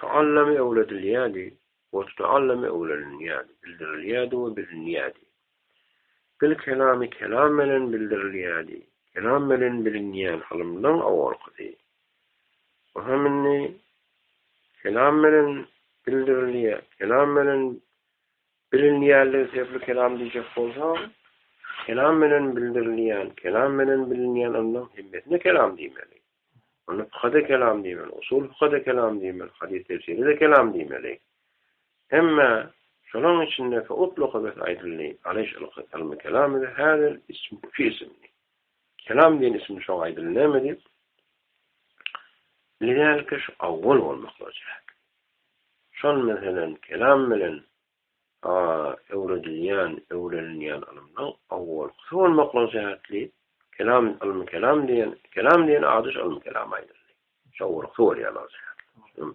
Taallam öwredilýärdi we tutaallam öwrenilýärdi, bildirilýärdi we bilinýärdi. Bil kelamy kelam bilen bildirilýärdi, kelam bilen bilinýän ylymdan owalkydy. Bu hem indi kelam bilen bildirilýär, kelam bilen Bilinýänligi sözli kelam diýjek bolsaň, kelam menen bildirilýän, kelam menen bilinýän ylmyň hemmesine kelam diýmeli. Onda fykha-da kelam diýmeli, usul fykha-da kelam diýmeli, hadys tefsire-de kelam diýmeli. Hemmä, şolaryň içinde feutlaka bes aýdyldy, alyş ylky, ylmy kelam edi, häzir ism fi isimdi. Kelam diýen isimde şoňa aýdyldy, näme diýip? Lidälika şu awwal bolmaklygy çäkli. Şol meselän kelam bilen öwredilýän, öwrenilýän ylymlaň awwalkysy bolmaklygy sebäpli kelam ylmy kelam diýen, kelam diýen ady şu ylmy kelama aýdyldy. Şu awwalkysy bolýanlygy sebäpli.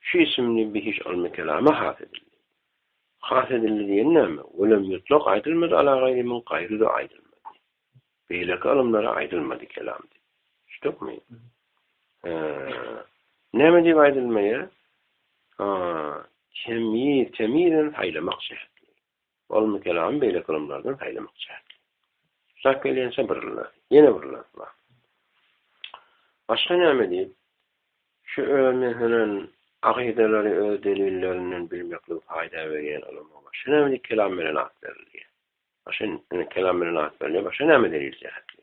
Şu isimli bihiş ylmy-kelama has edildi. Has edildi diýeni näme? Welem ýutlak aýdylmady ala gaýry min gaýry-da aýdylmady. Beýleki ylymlara aýdylmady kelam diýip. Düşdükmi? Näme diýip aýdylmaýar? Aa, temýiz, temýizem saýlamak şertli. Ol Mikelany beýleki ylymlardan saýlamak çäkli. Tutak gelýänçä bir yl bar. Ýene bir yl bar. Başga näme diýip, şu özüne hünän akydalary öz delillerinden bilmekligi paýda berýän ylyma başga näme diýip kelam bilen at berilýär? Başga, ine, kelam bilen at berilýär, başga näme delil jähetli?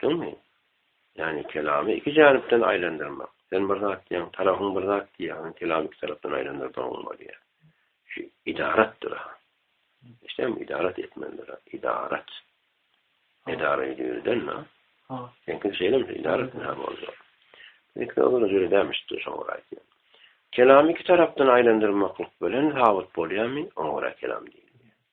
Düşdüňmi? Ýagny kelamy iki janipden aýlandyrmak. Sen bir zat diýýäň, tarapyň bir zat diýýär, onuň kelamy iki tarapdan aýlandyrdygyň bolýar. Şu idaratdyr-a. Eşidýäňmi? Idarat etmelidir-a. Idarat. Edara edýürdänmi? Ha. Seňki şeýlemi? Idarat näme bolýar? Seňki ozal jüri dämişdi, şoňa görä aýtýan. Kelamy iki tarapdan aýlandyrmaklyk bilen sabyt bolýarmy? Oňa görä kelam diýilýär.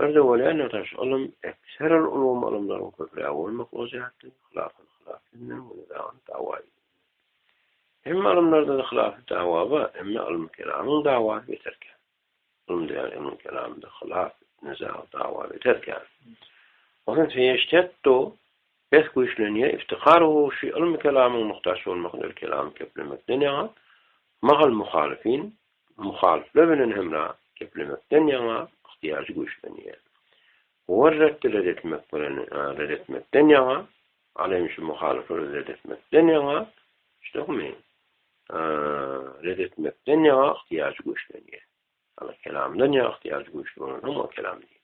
Birde welin tutaş ylym, ekser ol ulgam ylymlaryň köprägi bolmaklygy jähtden hylasyny hylap edinmegiň we nizamyny dawa edinmegiň. Hemme ylymlarda-da hylafy dawa bar, emma ylmy-kelamyň dawasy beter kän. Ylym diýýän ylmyň kelamynda hylaf, niza, dawa beter kän. Ondan feýeştetdu, bes güýçlenýär, iftikar u şi ylmy-kelamyň muhtaç bolmagydyr kelamy keplemekden ýaňa, mahal muhalyfin, Muhalyplar bilen hemra geplemekden ýaňa ygtyýajy güýçlenýär. Howa reddi red etmek bilen red etmekden ýaňa, al hem şu muhalyplary red etmekden ýaňa, düşdüňmi? Red etmekden ýaňa ygtyýajy güýçlenýär. Ýagny kelamdan ýaňa ygtyýajy güýçli bolan hem ol kelam diýilýär.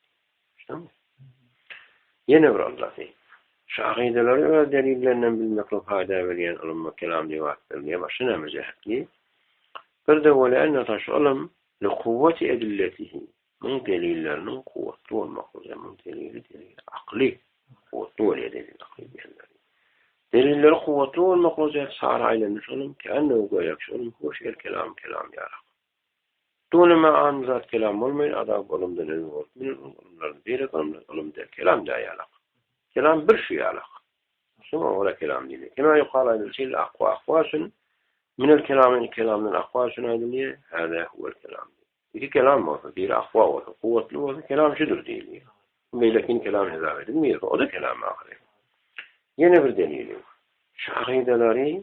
Ýene bir yllaty, şu akydalary öz delillerinden bilmeklik paýda berýän ylym we kelam diýip at berilýär. Başga näme jähetli? Bir-de welän ýotaş ylym likuwwati edilletihi, muň delilleriniň kuwwatly bolmaklygy, muň delili delili akyly kuwwatly bolýar delili akyly diýenleri. Delilleri kuwwatly bolmaklygy jähti sary aýlanyş ylym, kändi göýäki şu ylym hoş ýer kelam kelam ýarak. Düneme an zat kelam bolmaýyn, azap ylymdan öňe bolup bilen onuň ylymlaryny beýlek ylymlar ylym däl kelam däýýärlak. Kelam bir şu ýalak. Şoňa görä kelam diýilýär. Kema ýukal aýdylyşy ýaly akwa akwa üçin minel kelam iki kelamdan akwa üçin aýdylýar, hada huwel kelam. Iki kelam bolsa, biri akwa bolsa, kuwwatly bolsa kelam şudur diýilýär. Bu beýlekini kelam hesap edilmeýär, o-da kelam ahyry. Ýene bir delili. Şahydalary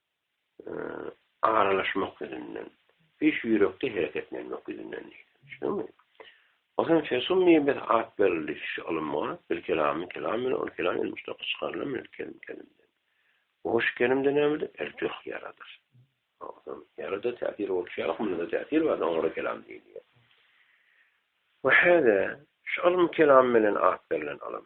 aralaşmak ýüzünden, hiç ýürekde hereketlenmek ýüzünden diýdi. Düşdüňmi? Onsoň Fesummiýe bir at berildi, şu ylymga, bir kelamy kelam bilen, ol kelam ýene muşdaky çykarylan bilen, kelim kelimden. O şu kelimde nämedir? Ertüh, ýaradyr. Onsoň ýarada täsir bolşy ýaly, hümle-de täsir bar, oňa da kelam diýilýär. We hada, şu ylym kelam bilen at berlen ylym.